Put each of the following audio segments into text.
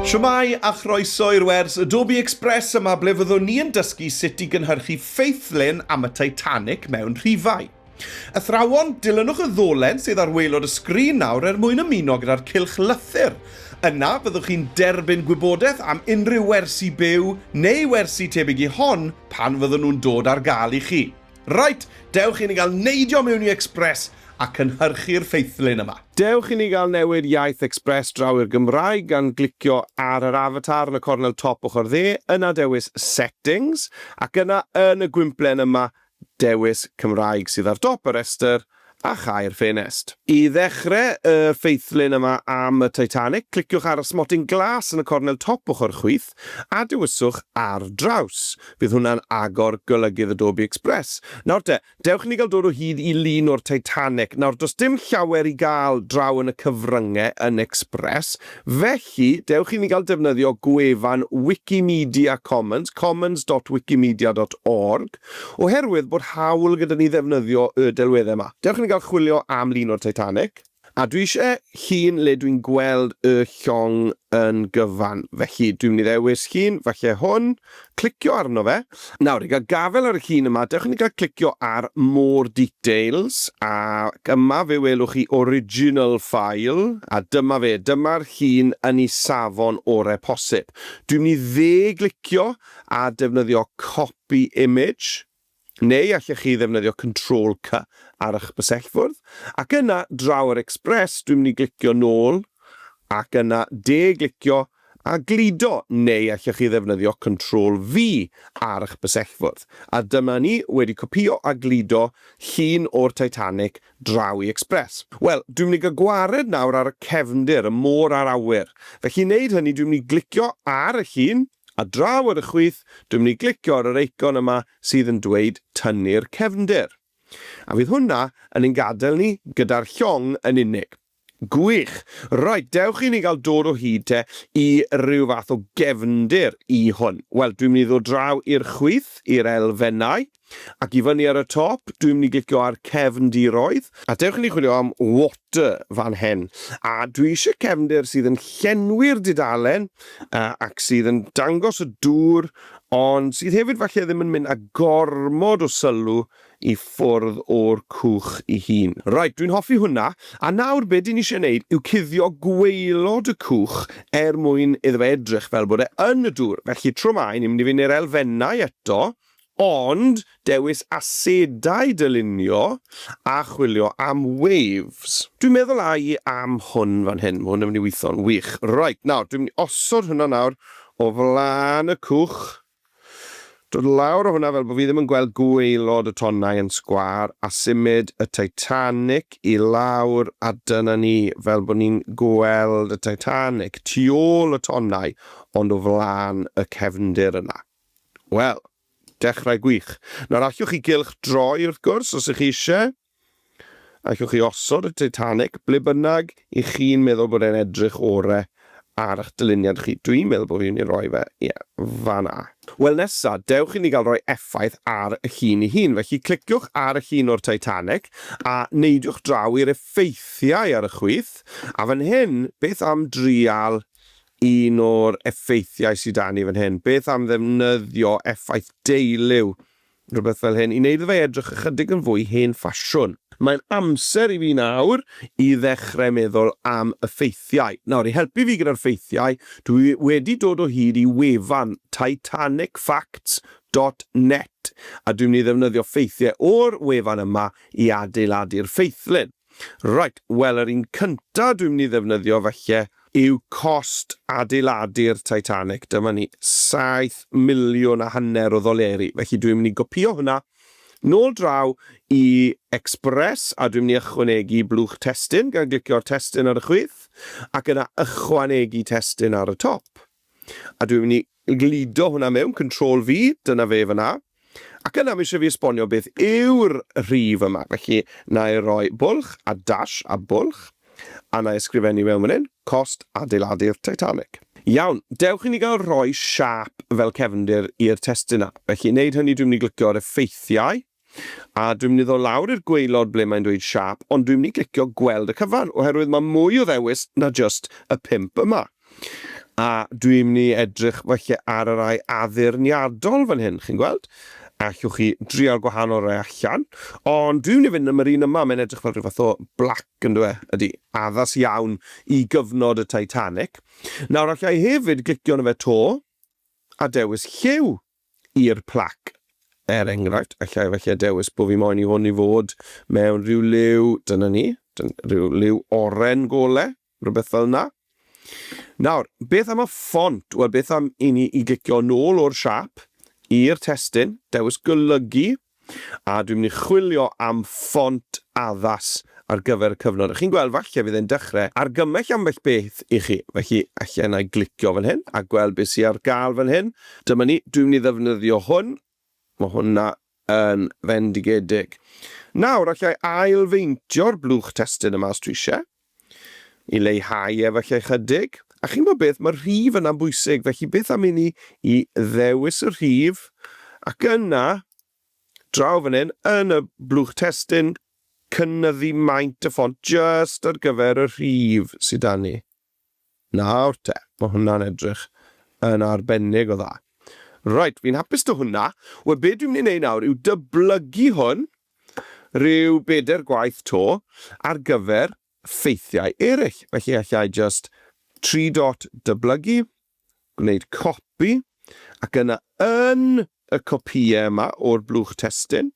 Shwmae a chroeso i'r wers Adobe Express yma ble fyddwn ni yn dysgu sut i gynhyrchu ffeithlun am y Titanic mewn rhifau. Athrawon, dilynwch y ddolen sydd ar waelod y sgrin nawr er mwyn ymuno gyda'r cylch lythyr. Yna, byddwch chi'n derbyn gwybodaeth am unrhyw wersi byw neu wersi tebyg i hon pan fyddwn nhw'n dod ar gael i chi. Reit, dewch i ni gael neidio mewn i Express a cynhyrchu'r ffeithlyn yma. Dewch i ni gael newid iaith Express draw i'r Gymraeg gan glicio ar yr avatar yn y cornel top ochr dde, yna dewis Settings, ac yna yn y gwymplen yma, dewis Cymraeg sydd ar dop y rhestr, a chau'r ffenest. I ddechrau y ffeithlun yma am y Titanic, cliciwch ar y smotyn glas yn y cornel top ochr chwith a dewiswch 'Ar Draws'. Bydd hwnna'n agor golygydd Adobe Express. Nawr te, dewch i ni gael dod o hyd i lun o'r Titanic. Nawr, does dim llawer i gael draw yn y cyfryngau yn Express, felly, Felly, dewch i ni gael defnyddio gwefan Wikimedia Commons, commons dot wikimedia dot org, oherwydd bod hawl gyda ni ddefnyddio y delweddau yma. Dewch i ni gael chwilio am lun o'r Titanic. A dwi eisiau llun le dwi'n gweld y llong yn gyfan, felly dwi'n mynd i ddewis llun, falle hwn. Clicio arno fe. Nawr, i gael gafael ar y llun yma, dewch i ni gael clicio ar More Details, ac yma fe welwch chi Original File, a dyma fe, dyma'r llun yn ei safon orau posib. Dwi'n mynd i dde-glicio a defnyddio Copy Image. Neu allech chi ddefnyddio Control C ar ych bysellfwrdd, ac yna draw ar Express dwi'n mynd i glicio nôl, ac yna de-glicio a gludo, neu allech chi ddefnyddio Control V ar ych bysellfwrdd. A dyma ni wedi copïo a gludo llun o'r Titanic draw i Express. Wel, dwi'n mynd i gael gwared nawr ar y cefndir, y môr a'r awyr. Felly i wneud hynny dwi'n mynd i glicio ar y llun, Ar draw ar y chwith, dwi'n mynd i glicio ar yr eicon yma sydd yn dweud tynnu'r cefndir. A fydd hwnna yn ein gadael ni gyda'r llong yn unig. Gwych! Reit, dewch i ni gael dod o hyd te i ryw fath o gefndir i hwn. Wel, dwi'n mynd i ddod draw i'r chwith, i'r elfennau. Ac i fyny ar y top, dwi'n mynd i glicio ar cefndiroedd. A dewch i ni chwilio am water fan hen. A dwi eisiau cefndir sydd yn llenwi'r dudalen ac sydd yn dangos y dŵr ond sydd hefyd falle ddim yn mynd â gormod o sylw i ffwrdd o'r cwch i hun. Reit, dwi'n hoffi hwnna. A nawr be dwi'n eisiau neud yw cuddio gwaelod y cwch er mwyn iddo fe edrych fel bod e yn y dŵr. Felly tro mae, ni'n mynd i fynd i'r elfennau eto. Ond dewis asedau dylunio a chwilio am waves. Dwi'n meddwl ai am hwn fan hyn, ma' hwn yn mynd i weitho'n wych. Reit, nawr, dwi'n mynd i osod hwnna nawr o flan y cwch. Dod lawr o hwnna fel bo' fi ddim yn gweld gwaelod y tonnau yn sgwâr, a symud y Titanic i lawr, a dyna ni, fel bo' ni'n gweld y Titanic tu ôl y tonnau, ond o flan y cefndir yna. Wel, dechrau gwych. Nawr, allwch chi gylch droi, wrth gwrs, os ych chi eisiau. Allwch chi osod y Titanic ble bynnag i chi'n meddwl bod e'n edrych orau ar eich dyluniad chi. Dwi'n meddwl bod fi'n mynd i roi fe, ie, fan'na. Wel, nesa, dewch i ni gael rhoi effaith ar y llun ei hun. Felly, cliciwch ar y llun o'r Titanic, a neidiwch draw i'r effeithiau ar y chwith. A fan hyn, beth am drial Un o'r effeithiau sy 'da ni fan hyn, beth am ddefnyddio effaith deuliw, rhywbeth fel hyn, i wneud iddo fe edrych ychydig yn fwy hen ffasiwn. Mae'n amser i fi nawr i ddechrau meddwl am y ffeithiau. Nawr, i helpu fi gyda'r ffeithiau, dwi wedi dod o hyd i wefan titanicfacts dot net a dwi'n mynd i ddefnyddio ffeithiau o'r wefan yma i adeiladu'r ffeithlyn. Reit, wel yr un cyntaf dwi'n mynd i ddefnyddio falle Yw cost adeiladu'r Titanic, dyma ni, saith miliwn a hanner o ddoleri, felly dwi'n mynd i gopïo hwnna nôl draw i Express a dwi'n mynd i ychwanegu blwch testun gan glicio'r testun ar y chwith ac yna ychwanegu testun ar y top. A dwi'n mynd i gludo hwnna mewn, Control V, dyna fe fan'na. Ac yna mae eisiau fi esbonio beth yw'r rhif yma. Felly, na i roi bwlch a dash a bwlch, a na i ysgrifennu mewn fan hyn, cost adeiladu'r Titanic. Iawn, dewch i ni gael rhoi siâp fel cefndir i'r testun 'na. Felly, i wneud hynny dwi'n mynd i glicio ar Effeithiau. A dwi'n mynd i ddod lawr i'r gwaelod ble mae'n dweud Sharp, ond dwi'n mynd i glicio gweld y cyfan, oherwydd mae mwy o ddewis na jyst y pump yma. A dwi'n mynd i edrych felly ar y rai addurniadol fan hyn, chi'n gweld? Allwch chi drial gwahanol rai allan, ond dwi'n mynd i fynd am yr un yma, mae'n edrych fel rhyw fath o black yn dwe, ydy, addas iawn i gyfnod y Titanic. Nawr allai hefyd glicio yn y fe to, a dewis lliw. i'r plac. Er enghraifft, efallai, efallai dewis bo fi moyn i hwn i fod mewn rhyw liw, dyna ni, rhyw liw oren gole, rhywbeth fel yna. Nawr, beth am y ffont? Wel, beth am i ni i glicio nôl o'r siap i'r testun, dewis golygu, A dwi'n mynd i chwilio am ffont addas ar gyfer y cyfnod. A chi'n gweld, falle fydd e'n dechrau argymell ambell beth i chi. Felly, alla i na i glicio fan hyn a gweld beth sydd ar gael fan hyn. Dyma ni, dwi'n mynd i ddefnyddio hwn. Mae hwnna yn fendigedig. Nawr, alla i ail-feintio'r blwch testun yma os dwi eisiau. I leihau efallai ychydig, a chi'n gwybod beth, mae'r rhif yna'n bwysig, felly beth am i ni i ddewis y rhif, ac yna, draw fan hyn, yn y blwch testun, cynyddu maint y ffont jyst ar gyfer y rhif sydd 'da ni. Nawr te, mae hwnna'n edrych yn arbennig o dda. Reit, fi'n hapus 'da hwnna. Wel, be dwi'n mynd i wneud nawr yw dyblygu hwn rhyw bedair gwaith 'to ar gyfer ffeithiau eraill. Felly, alla i jyst tri dot dyblygu, gwneud copi, ac yna yn y copïau yma o'r blwch testun,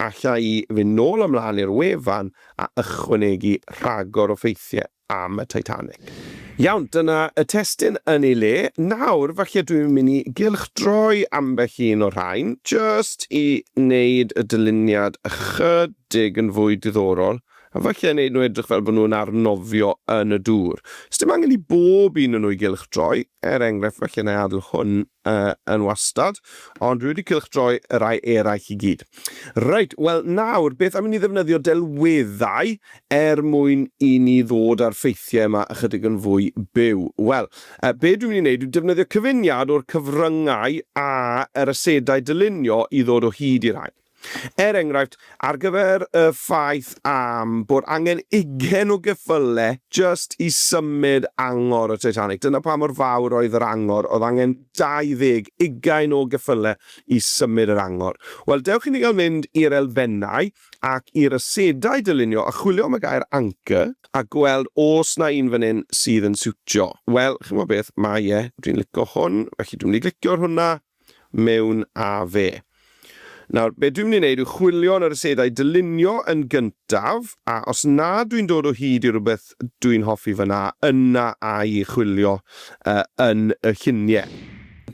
alla i fynd nôl a mlaen i'r wefan a ychwanegu rhagor o ffeithiau am y Titanic. Iawn, dyna y testun yn ei le. Nawr, falle dwi'n mynd i gylchdroi ambell un o'r rhain, jyst i wneud y dyluniad ychydig yn fwy diddorol, a falle wneud nhw edrych fel bod nhw'n arnofio yn y dŵr. Sdim angen i bob un o nhw i gylchdroi, er enghraifft, falle wna i adael hwn Yy, yn wastad, ond dwi wedi cylchdroi y rhai eraill i gyd. Reit, wel nawr, beth am i ni ddefnyddio delweddau er mwyn i ni ddod â'r ffeithiau yma ychydig yn fwy byw? Wel, yy, be dwi'n mynd i wneud yw defnyddio cyfuniad o'r cyfryngau a yr asedau dylunio i ddod o hyd i rhain. Er enghraifft, ar gyfer y ffaith am bod angen ugain o geffyle jyst i symud angor y Titanic. Dyna pa mor fawr oedd yr angor, oedd angen 20, ugain o geffyle i symud yr angor. Wel, dewch i ni gael mynd i'r elfennau ac i'r asedau dylunio a chwilio am y gair anchor a gweld os 'na un fan hyn sydd yn siwtio. Wel, chimod beth, mae e, dwi'n licio hwn, felly dwi'n mynd i glicio ar hwnna. mewn â fe. Nawr, be dwi'n mynd i wneud yw chwilio yn yr asedau dylunio yn gyntaf, a os na dwi'n dod o hyd i rywbeth dwi'n hoffi fan'na, yna a'i chwilio yn y lluniau.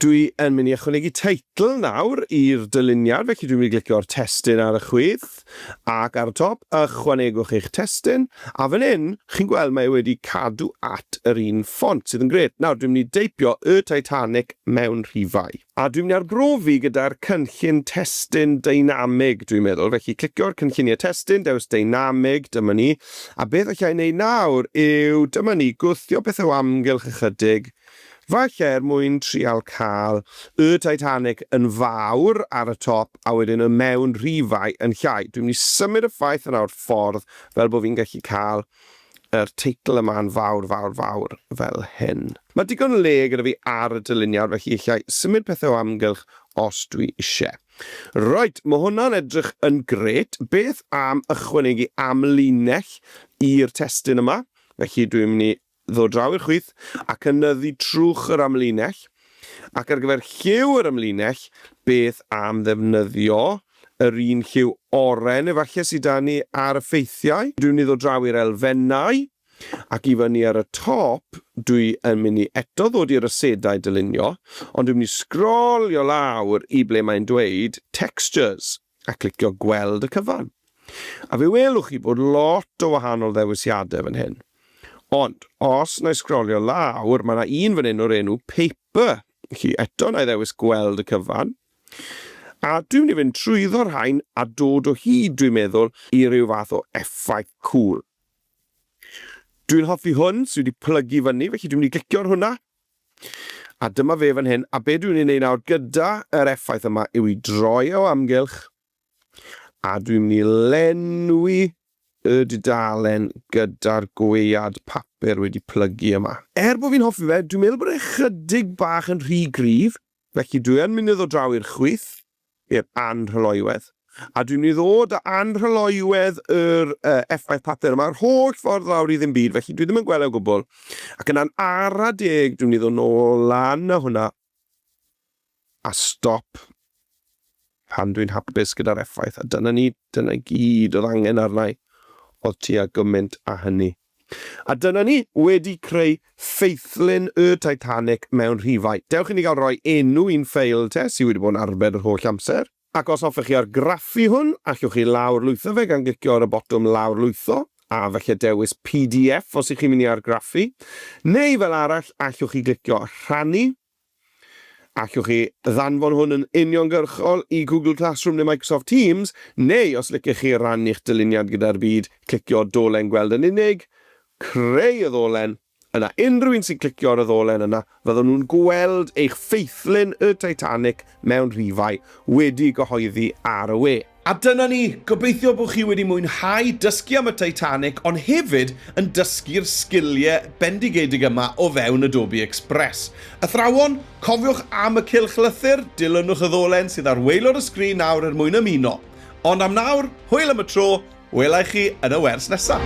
Dwi yn mynd i ychwanegu teitl nawr i'r dyluniad, felly dwi'n mynd i glicio ar testun ar y chwith. Ac ar y top, ychwanegwch eich testun, a fan hyn, chi'n gweld mae e wedi cadw at yr un ffont, sydd yn grêt. Nawr, dwi'n mynd i deipio Y Titanic mewn rhifau. A dwi'n mynd i arbrofi gyda'r cynllun testun deinamig, dwi'n meddwl. Felly, clicio ar Cynlluniau Testun, dewis Deinamig, dyma ni. A beth alla i wneud nawr yw, dyma ni, gwthio pethau o amgylch ychydig, Falle er mwyn trial cael y Titanic yn fawr ar y top a wedyn y mewn rhifau yn llai. Dwi'n mynd i symud y ffaith yna o'r ffordd fel bod fi'n gallu cael yr teitl yma'n fawr, fawr, fawr fel hyn. Mae digon le gyda fi ar y dyluniad felly allai symud pethau o amgylch os dwi isie. Reit, mae hwnna'n edrych yn grêt. Beth am ychwanegu amlinell i'r testun yma? Felly dwi'n mynd i ddod draw i'r chwith a cynyddu trwch yr amlinell, ac ar gyfer lliw yr amlinell, beth am ddefnyddio yr un lliw oren efallai sy 'da ni ar y ffeithiau? Dwi'n mynd i ddod draw i'r elfennau, ac i fyny ar y top, dwi yn mynd i eto ddod i'r asedau dylunio, ond dwi'n mynd i sgrolio lawr i ble mae'n dweud 'Textures'. a clicio gweld y cyfan. A fe welwch chi bod lot o wahanol ddewisiadau fan hyn. Ond, os na i sgrolio lawr, mae yna un fan hyn o'r enw Paper. Chi eto na i ddewis gweld y cyfan. A dwi'n mynd i fynd trwyddo'r rhain a dod o hyd, dwi'n meddwl, i ryw fath o effaith cŵl. Dwi'n hoffi hwn sydd wedi plygu fyny, felly dwi'n mynd i glicio ar hwnna. A dyma fe fan hyn, a be dwi'n ei wneud nawr gyda yr effaith yma yw i droi e o amgylch, a dwi'n mynd i lenwi y dudalen gyda'r gwead papur wedi plygu yma. Er bod fi'n hoffi fe, dwi'n meddwl bod e chydig bach yn rhy gryf, Felly dwi yn mynd i ddod draw i'r chwith, i'r anrhyloywedd, a dwi'n mynd i ddod â anrhyloywedd yr uh, effaith papur yma, yr holl ffordd lawr i ddim byd, felly dwi ddim yn gweld e o gwbl. Ac yna'n ara deg, dwi'n mynd i ddod nôl lan a hwnna, a stop pan dwi'n hapus gyda'r effaith. A dyna ni, dyna gyd oedd angen arnau, oedd ti a gymaint a hynny. A dyna ni, wedi creu ffeithlyn y Titanic mewn rhifau. Dewch i ni gael rhoi enw i'n ffeil te, sydd wedi bod yn arbed yr holl amser. Ac os hoffech chi argraffu hwn, allwch chi lawrlwytho fe gan glicio ar y botwm lawrlwytho, a falle dewis pdf os y'ch chi'n mynd i argraffu. Neu fel arall, allwch chi glicio rhannu. Allwch chi ddanfon hwn yn uniongyrchol i Google Classroom neu Microsoft Teams, neu os licech chi rannu'ch dyluniad gyda'r byd, clicio dolen gweld yn unig, creu y ddolen, yna unrhyw un sy'n clicio ar y ddolen yna fyddwn nhw'n gweld eich ffeithlyn y Titanic mewn rhifau wedi gyhoeddi ar y we. A dyna ni, gobeithio bod chi wedi mwynhau dysgu am y Titanic ond hefyd yn dysgu'r sgiliau bendigedig yma o fewn Adobe Express. Athrawon, cofiwch am y cylch lythyr, dilynwch y ddolen sydd ar waelod y sgrin nawr er mwyn ymuno. Ond am nawr, hwyl am y tro, wela i chi yn y wers nesaf!